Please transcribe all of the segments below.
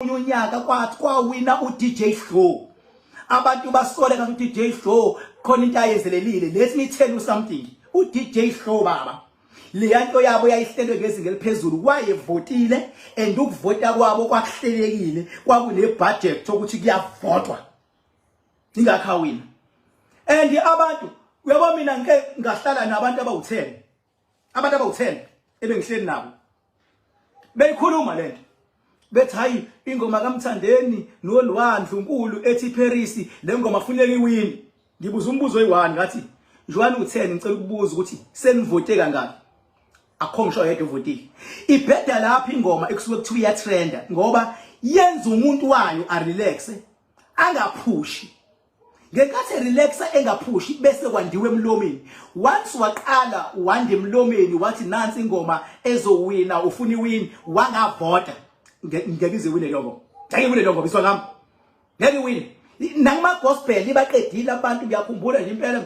omunye unyaka kwathi kwawina uDJ Hlo abantu basole ngathi uDJ Hlo khona into ayenzelelile let me tell you something uDJ Hlo baba leya nto yabo yayihlelwe ngezinga eliphezulu wayevotile and ukuvota kwabo kwakuhlelekile kwakunebudget ukuthi kuyavotwa ingakhawina and abantu uyabo mina ngike ngahlala nabantu abawu-10 abantu abawu-10 ebengihleli nabo beyikhuluma le nto bethi hayi ingoma kamthandeni nolwandle unkulu ethi paris le ngoma funeka iwini ngibuza umbuzo oyi-one ngathi njwani u-10 ngicela ukubuza ukuthi senivote kangaki akho ngisho yedwa ovotile ibheda lapha ingoma ekusuke kuthiwa iyatrenda ngoba yenza umuntu wayo arelaxe angaphushi ngenkathi relaxa engaphushi bese kwandiwe emlomeni once waqala wande emlomeni wathi nansi ingoma ezowina ufuna iwin wangavota ngeke ize wine leyo ngoma ngeke wine leyo ngoma iswa ngami ngeke wine nakuma gospel ibaqedile abantu ngiyakhumbula nje impela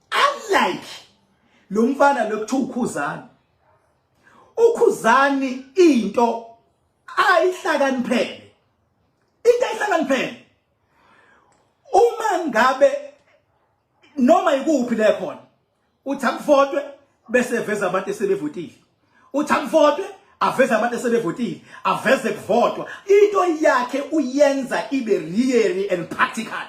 unlike lo mfana lokuthu ukhuzani ukhuzani into ayihlakaniphele into ayihlakaniphele uma ngabe noma ikuphi le khona uthi akuvotwe bese veza abantu esebevotile uthi akuvotwe aveze abantu esebevotile aveze kuvotwa into yakhe uyenza ibe really and practical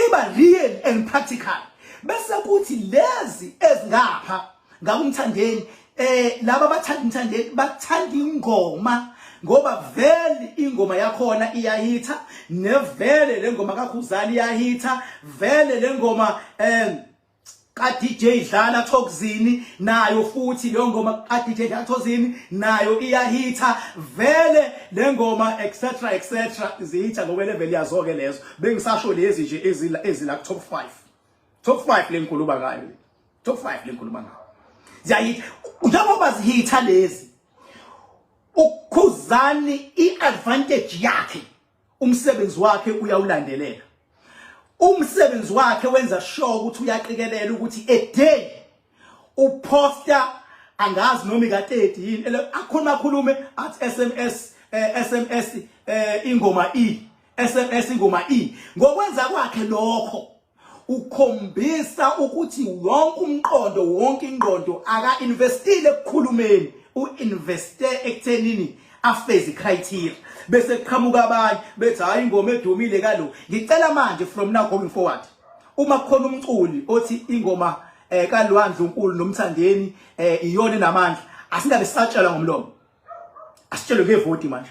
iba real and practical bese kuthi lezi ezingapha ngakumthandeni eh laba bathanda umthandeni bathanda ingoma ngoba vele ingoma yakhona iyahitha nevele lengoma kakhuzani iyahitha vele lengoma eh ka DJ Dlala Thokozini nayo futhi leyo ngoma ka DJ Dlala Thokozini nayo iyahitha vele le ngoma etc etc zihitha ngoba level yazo ke lezo bengisasho lezi nje ezila ezila top 5 top 5 lenkuluba ngayo top 5 lenkuluba ngayo ziyayitha njengoba zihitha lezi ukhuzani iadvantage yakhe umsebenzi wakhe uyawulandelela umsebenzi wakhe wenza sure ukuthi uyaqikelela ukuthi a day uposta angazi noma ika 30 yini akhona akhulume at SMS SMS eh, eh, ingoma E SMS ingoma E ngokwenza kwakhe lokho ukhombisa ukuthi wonke umqondo wonke ingqondo aka-investile ekukhulumeni u-investe ekuthenini afeze criteria bese kuqhamuka abanye bethi hayi ingoma edumile kalo ngicela manje from now going forward uma khona umculi othi ingoma eh kalwandle uNkulu nomthandeni eh iyona namandla asingabe satshelwa ngomlomo asitshelwe ngevoti manje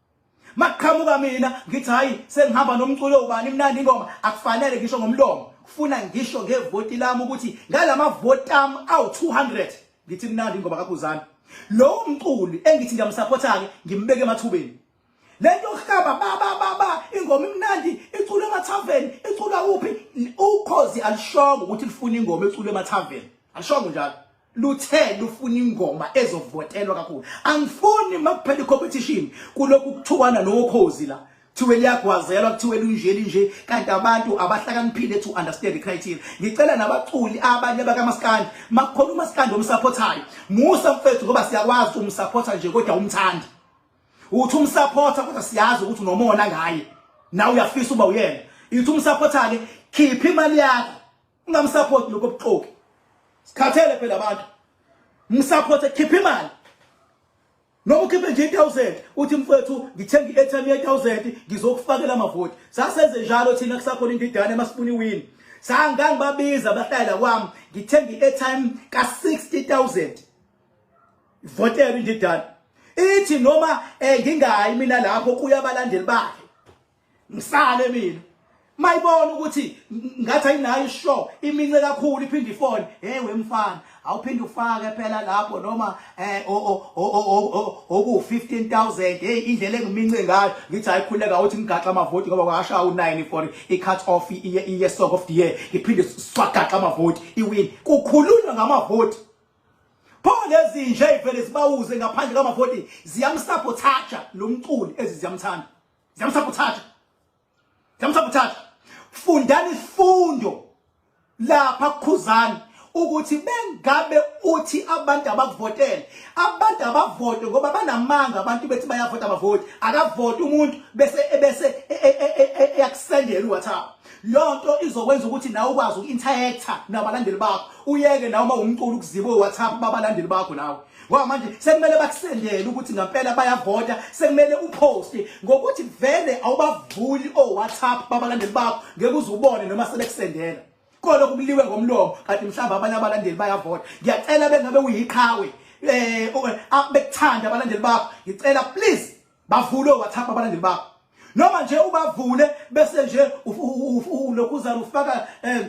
Maqhamuka mina ngithi hayi sengihamba nomculo ubani imnandi ingoma akufanele ngisho ngomlomo kufuna ngisho ngevoti lami ukuthi ngalama voti ami awu 200 ngithi imnandi ingoma kaKhuzani lowo mculi engithi ngiyamsupportake ngimbeke emathubeni lento yokuhlaba baba baba ingoma imnandi iculwe emathaveni iculwa kuphi ukhozi alishongo ukuthi lifuna ingoma eculwe emathaveni alishongo njalo luthe lufuna ingoma ezovotelwa kakhulu angifuni makuphela icompetition kulokhu kuthukwana nokhozi la kuthiwe liyagwazelwa kuthiwe lunje linje kanti abantu abahlakaniphile to understand the criteria ngicela nabaculi abanye bakamaskandi makukhona umaskandi omsupportayo musa mfethu ngoba siyakwazi umsupporta nje kodwa umthandi uthi umsupporta kodwa siyazi ukuthi unomona ngaye nawe uyafisa uba uyena ithi umsupporta ke khipha imali yakho ungamsupport lokho buxoki sikhathele phela abantu msupport ekhipha imali noma ukhiphe nje 1000 uthi mfethu ngithenga i-airtime ye 1000 ngizokufakela amavoti sasenze njalo thina kusakhona indidane masifuna iwin sangangibabiza bahlalela kwami ngithenga i-airtime ka 60000 votela indidane ithi noma eh, ngingayi mina lapho kuyabalandeli bakhe ngisale mina mayibona ukuthi ngathi ayinayo ishow imince kakhulu iphinde ifone hey wemfana awuphinde ufake phela lapho noma eh oku 15000 hey indlela engimince ngayo ngithi ayikhuleka uthi ngigaxa amavoti ngoba kwasha u9 for i cut off iye iye song of the year ngiphinde swagaxa amavoti iwin kukhulunywa ngamavoti pho lezi nje ivele sibawuze ngaphandle kwamavoti ziyamsapothaja lo mculi eziziyamthanda Ziyamsabothaja. Ziyamsabothaja. Fundani ifundo lapha kukhuzani ukuthi bengabe uthi abantu abavotele abantu abavote ngoba banamanga abantu bethi bayavota abavoti akavoti umuntu bese bese e, e, e, eyakusendela uWhatsApp lonto izokwenza ukuthi nawe ukwazi uku-interactor nabalandeli bakho uyeke nawe uma umculo ukuziba uWhatsApp babalandeli bakho nawe ngoba manje sekumele bakusendele ukuthi ngampela bayavota sekumele uposte ngokuthi vele awubavuli owhatsapp babalandeli bakho ngeke uze ubone noma sebekusendela kolo kubuliwe ngomlomo kanti mhlawumbe abanye abalandeli bayavota ngiyacela bengabe uyiqhawe eh, eh ah, bekuthanda abalandeli bakho ngicela please bavule owhatsapp abalandeli bakho noma nje ubavule bese nje ulokhu uzana ufaka eh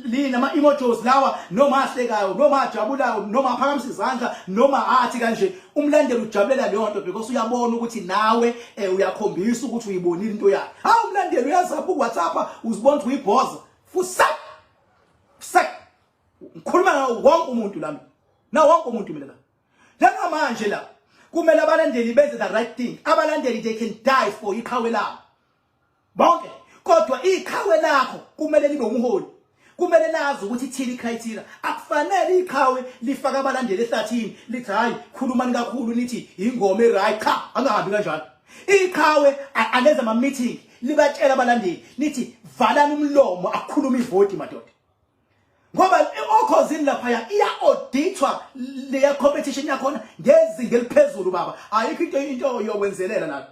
lina ama emojis lawa noma ahlekayo noma ajabulayo noma aphakamisa izandla noma athi kanje umlandeli ujabulela leyo nto because uyabona ukuthi nawe eh, uyakhombisa ukuthi uyibonile into yakhe hawu umlandeli uyazapha ku WhatsApp uzibona ukuthi uyibhoza fusa fusa ngikhuluma ngawo wonke umuntu lami na wonke umuntu mina la lana manje la kumele abalandeli benze the right thing abalandeli they can die for iqhawe labo bonke kodwa iqhawe lakho kumele libe umholi kumele lazi ukuthi thini icriteria akufanele iqhawe lifaka abalandeli ehlathini lithi hayi khulumani kakhulu nithi ingoma eright cha angahambi kanjalo iqhawe alenza ama meeting libatshela abalandeli nithi valani umlomo akhuluma ivoti madoda ngoba okhozini laphaya iya auditwa leya competition yakhona ngezinga eliphezulu baba ayikho into into yokwenzelela lapha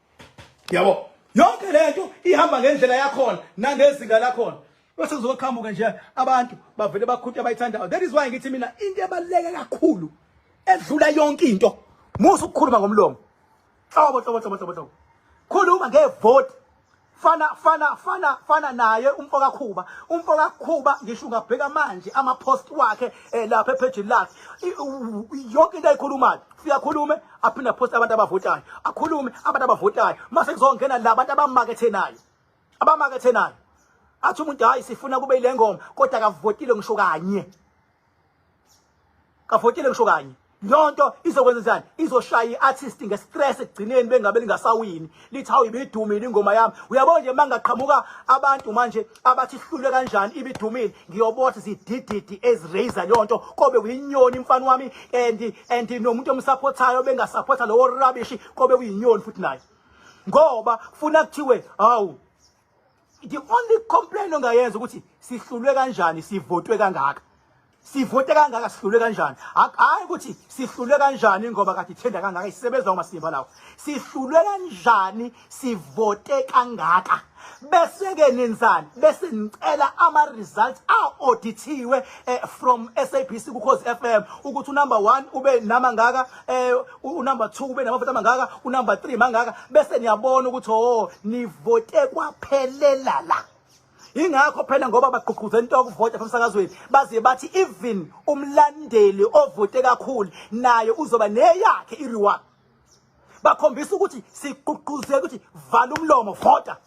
yabo yonke lento ihamba ngendlela yakhona nangezinga lakhona bese kuzoqhamuka nje abantu bavele bakhunta abayithandayo that is why ngithi mina into ebaluleke kakhulu edlula yonke into musa ukukhuluma ngomlomo hlobo hlobo hlobo hlobo hlobo khuluma ngevoti fana fana fana fana naye umfoka Khuba umfoka Khuba ngisho ungabheka manje ama post wakhe eh, lapha epage lakhe yonke into ayikhulumayo siyakhulume aphinda post abantu abavotayo akhulume abantu abavotayo mase kuzongena la abantu abamakethe naye abamakethe naye athi umuntu hayi sifuna kube ile ngoma kodwa akavotile ngisho kanye kafotile kusho kanye yonto izokwenza njani izoshaya iartist ngestress ekugcineni bengabe lingasawini lithi hawu ibidumile ingoma yami uyabo nje mangaqhamuka abantu manje abathi sihlulwe kanjani ibidumile ngiyobothi zidididi eziraise yonto kobe uyinyoni mfana wami and and nomuntu omsupportayo bengasupporta lowo rubbish kobe uyinyoni futhi naye ngoba kufuna kuthiwe hawu the only complaint ongayenza ukuthi sihlulwe kanjani sivotwe kangaka sivote kangaka sihlulwe kanjani hayi ukuthi sihlulwe kanjani ngoba kade ithenda kangaka isebenza umasimba lawo sihlulwe kanjani sivote kangaka bese-ke nenzani bese nicela ama-results a-audithiwe um eh, from sabc kukhozi f m ukuthi unumber one ube nama ngaka um unumber 2 kube namavoti amangaka unumber 3 mangaka bese niyabona ukuthi oh nivote kwaphelela la ingakho phela ngoba bagqugquze into yokuvota emsakazweni baze bathi even umlandeli ovote kakhulu naye uzoba neyakhe i-reward bakhombisa ukuthi sigqugquzela ukuthi vala umlomo vota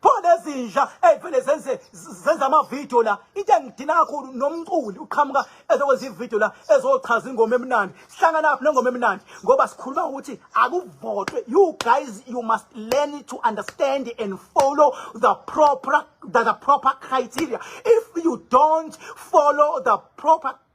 pho lezinja eyivele zenze zenza amavidiyo la into engidina kakhulu nomculi uqhamuka ezokwenza ividiyo la ezochaza ingoma emnandi sihlangana lapho nengoma emnandi ngoba sikhuluma ukuthi akuvotwe you guys you must learn to understand and follow the proper the, the proper criteria if you don't follow the proper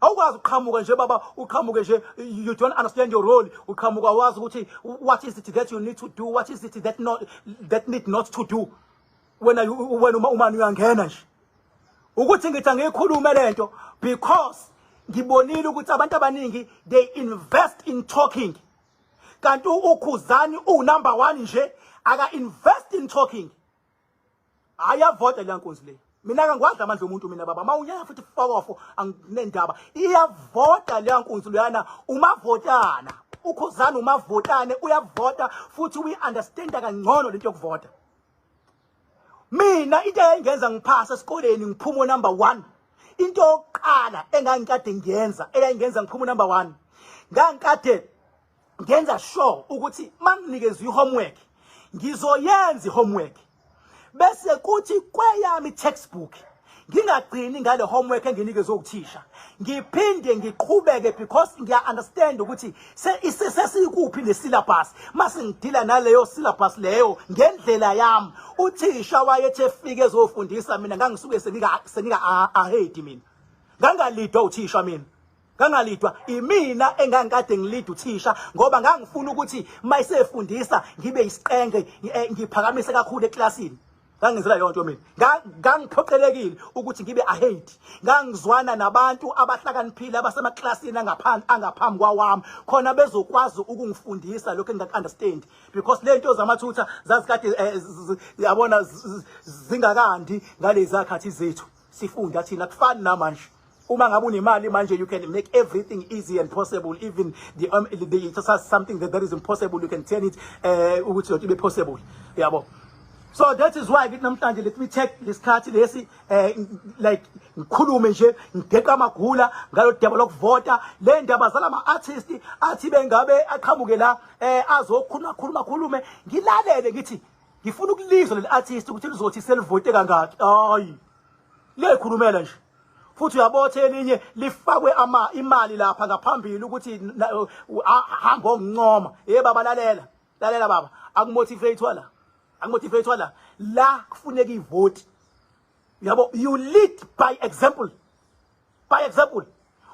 awukwazi uqhamuka nje baba uqhamuke nje you don't understand your role uqhamuka wazi ukuthi what is it that you need to do what is it that not that need not to do wena wena uma umani uyangena nje ukuthi ngithi angiyikhulume lento because ngibonile ukuthi abantu abaningi they invest in talking kanti ukhuzani u number 1 nje aka invest in talking hayi yavota leya nkunzi le mina ke ngiwadla amandla omuntu mina baba mawunyaya futhi fokofo anginendaba iyavota leya nkunzi loyana umavotana ukhuzana umavotane uyavota futhi uyi-understanda kangcono lento yokuvota mina into eyayingenza ngiphasa esikoleni ngiphuma unumber one into yokuqala engangikade ngiyenza eyayingenza ngiphuma unumber one ngangikade ngenza sure ukuthi manginikeza ihomework ngizoyenza ihomework bese kuthi kweyami textbook ngingagcini ngale homework enginikeze ukuthisha ngiphinde ngiqhubeke because ngiya understand ukuthi sesikuphi le syllabus mase ngidila naleyo syllabus leyo ngendlela yami uthisha wayethe efike ezofundisa mina ngangisuke sengika sengika ahedi mina ngangalidwa uthisha mina ngangalidwa imina engangikade ngilida uthisha ngoba ngangifuna ukuthi mayisefundisa ngibe isiqenge eh, ngiphakamise kakhulu eklasini ngangizela yonto mina ngangiphoqelekile ukuthi ngibe ahate ngangizwana nabantu abahlakaniphile abasemaklasini angaphansi angaphambi kwawami khona bezokwazi ukungifundisa lokho engingakunderstand because lento zamathutha zazikade eh, yabona zingakandi ngalezi zakhathi zethu sifunda thina kufani namanje Uma ngabe unemali manje you can make everything easy and possible even the um, the just has something that that is impossible you can turn it eh ukuthi yonke ibe possible. Yabo. So that is why kithi namhlanje let me take lesikhathi lesi eh like ngikhulume nje ngigeqa amagula ngalo daba lokuvota le ndaba zalama artist athi bengabe aqhamuke la eh azokhuluma khuluma khulume ngilalele ngithi ngifuna ukulizwa leli artist ukuthi lizothi selivote kangaki hayi lekhulumela nje futhi uyabotha elinye lifakwe ama imali lapha ngaphambili ukuthi hamba ongincoma hey baba lalela lalela baba akumotivate wala akumotivate wala la kufuneka ivoti yabo you lead by example by example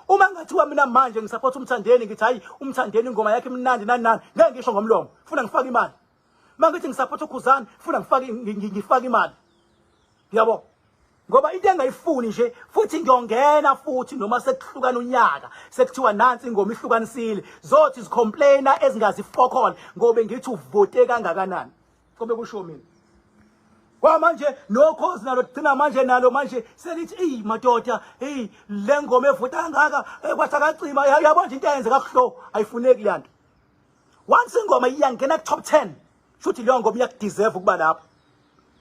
uma ngathiwa mina manje ngisupport umthandeni ngithi hayi umthandeni ingoma yakhe imnandi nani nani ngeke ngisho ngomlomo funa ngifake imali mangithi ngisapotha ukhuzani funa ngifake ngifake imali yabo ngoba into engayifuni nje futhi ngiyongena futhi noma sekuhlukana unyaka sekuthiwa nansi ingoma ihlukanisile zothi zicomplaina ezingazifokhona ngoba ngithi uvote kangakanani kobe kusho mina kwamanje nokhozi nalo thina manje nalo manje selithi eyi madoda eyi le ngoma evuta kangaka eh, kwathi akacima yabo nje into eyenze kakuhlo ayifuneki le nto once ingoma iyangena top 10 shuthi leyo ngoma iyakudeserve ukuba lapho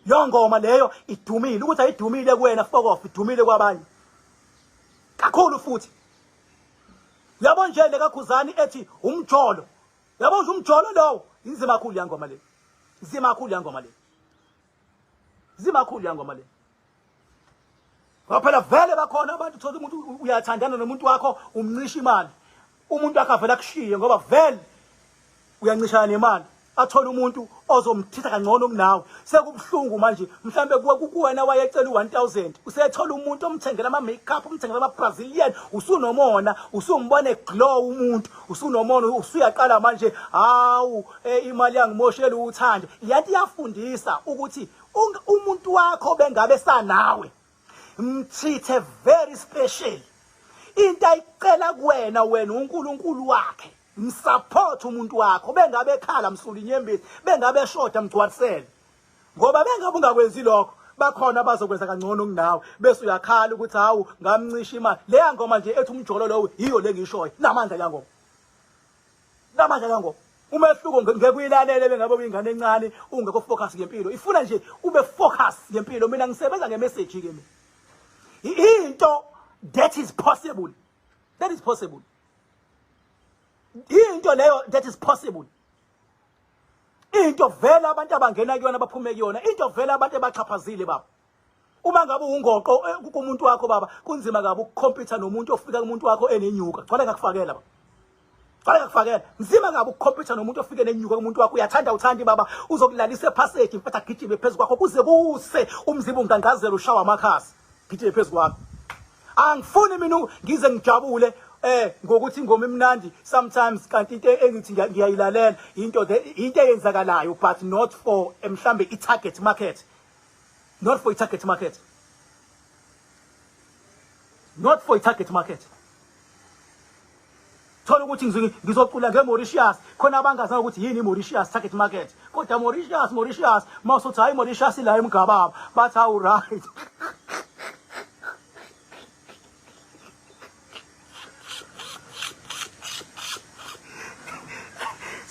leyo ngoma leyo idumile ukuthi ayidumile kuwena fokof idumile kwabanye kakhulu futhi yabo nje lekakhuzani ethi umjolo yabo nje umjolo lowo inzima kakhulu yangoma le inzima kakhulu yangoma le zimakhulu yangoma le ngoba phela vele bakhona abantu thola umuntu uyathandana nomuntu wakho umncisha imali umuntu wakhe avela kushiye ngoba vele uyancishana nemali athole umuntu ozomthitha kangcono kunawe sekubuhlungu manje mhlambe kuwe kukuwena wayecela u1000 usethola umuntu omthengela ama makeup umthengela ama Brazilian usunomona usumbone glow umuntu usunomona usuyaqala manje hawu Eh imali yangimoshela uthande. Yanti yafundisa ukuthi umuntu wakho bengabe sanawe. Mchithe very special. Into ayicela kuwena wena uNkulunkulu wakhe. Msupport umuntu wakho bengabe ekhala msuli inyembezi bengabe eshoda mgcwarisele. Ngoba bengabe ungakwenzi lokho bakhona abazokwenza kangcono kunawe bese uyakhala ukuthi hawu ngamncisha imali leya ngoma nje ethi umjolo lowo yiyo lengishoyo namandla yangoma Namanje kangoba umehluko ngeke uyilalele bengabe uyingane encane ungekho focus ngempilo ifuna nje ube focus ngempilo mina ngisebenza ngemessage ke mina into that is possible that is possible into leyo that is possible into vela abantu abangena kuyona baphume kuyona into vela abantu ebaxhaphazile baba uma ngabe ungoqo eh, kumuntu wakho baba kunzima kabi ukukhompyutha nomuntu ofika kumuntu wakho enenyuka gcwale ngakufakela baba Fala ngakufakela. Nzima ngabe ukukhompetha nomuntu ofike nenyuka kumuntu wakho uyathanda uthandi baba uzokulalisa ephasage mfethu agijime phezu kwakho kuze kuse umzimba ungangazela ushawa amakhasi. Gijime phezu kwakho. Angifuni mina ngize ngijabule eh ngokuthi ingoma imnandi sometimes kanti into engithi ngiyayilalela into into eyenzakalayo but not for eh, mhlambe i target market not for i-target market not for i-target market thola ukuthi ngizocula nge-mauritius khona abangazazi ukuthi yini i-mauritius target market kodwa mauritius mauritius uma usuthi hhayi mauritius ila emgababa bathi hawu right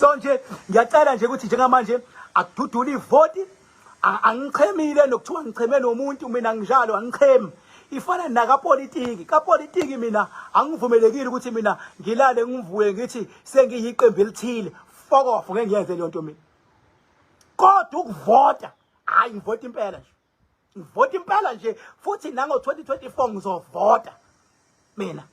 so nje ngiyacela nje ukuthi njengamanje akududule ivoti angichemile nokuthiwa ngicheme nomuntu mina nginjalo angichemi ifana nakapolitiki kapolitiki mina angivumelekile ukuthi mina ngilale ngivuye ngithi sengiyiqembu elithile fuck off ngeke ngiyenze leyo nto mina kodwa ukuvota hayi ngivota impela nje ngivota impela nje futhi nango-2024 ngizovota mina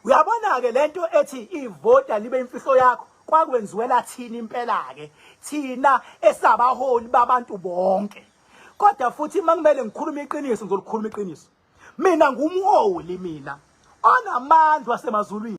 uyabona ke lento ethi ivota libe imfihlo yakho kwakwenziwela thina impela ke thina esabaholi babantu bonke kodwa futhi makumele ngikhulume iqiniso ngizolikhuluma iqiniso mina ngumholi mina onamandla wasemazulwini